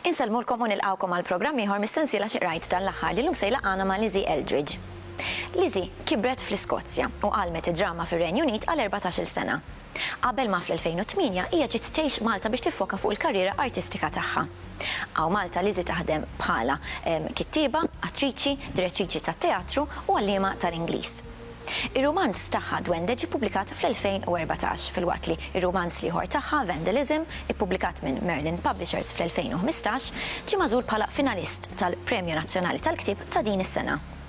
Insellmulkom u nilqgħukom għal programm ieħor mis-sensiela Xi Qrajt dan l-aħħar li llum se jlaqqagħna ma' Lizzie Eldridge. Lizzie kibret fl-Iskozja u għallmet id-drama fir-Renju Unit għal erbatax-il sena. Qabel ma fl-2008 hija ġiet tgħix Malta biex tiffoka fuq il-karriera artistika tagħha. Hawn Malta Lizzy taħdem bħala kittieba, attriċi, direttriċi tat-teatru u għalliema tal-Ingliż. Ir-rumanz tagħha Dwende ġie ppubblikat fl-2014, filwaqt li r-rumanz l-ieħor tagħha Vandalism, ippubblikat minn Merlin Publishers fl-2015, ġie magħżul bħala finalist tal-Premju Nazzjonali tal-Ktieb ta' din is-sena.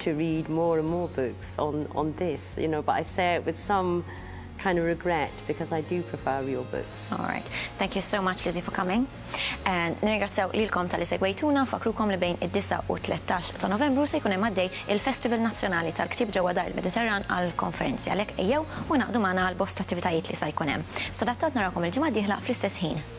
to read more and more books on on this, you know, but I say it with some kind of regret because I do prefer your books. All right. Thank you so much, Lizzie, for coming. And nirringrazzjaw lilkom tal-li segwejtuna, fakrukom li bejn id-9 u 13 ta' Novembru se jkun hemm għaddej il-Festival Nazzjonali tal-Ktieb ġewwa Dar il-Mediterran għall-konferenzi għalhekk ejjew u ngħaqdu magħna għal bosta attivitajiet li sa jkun hemm. Sadattant narawkom il-ġimgħa d-dieħla fl-istess ħin.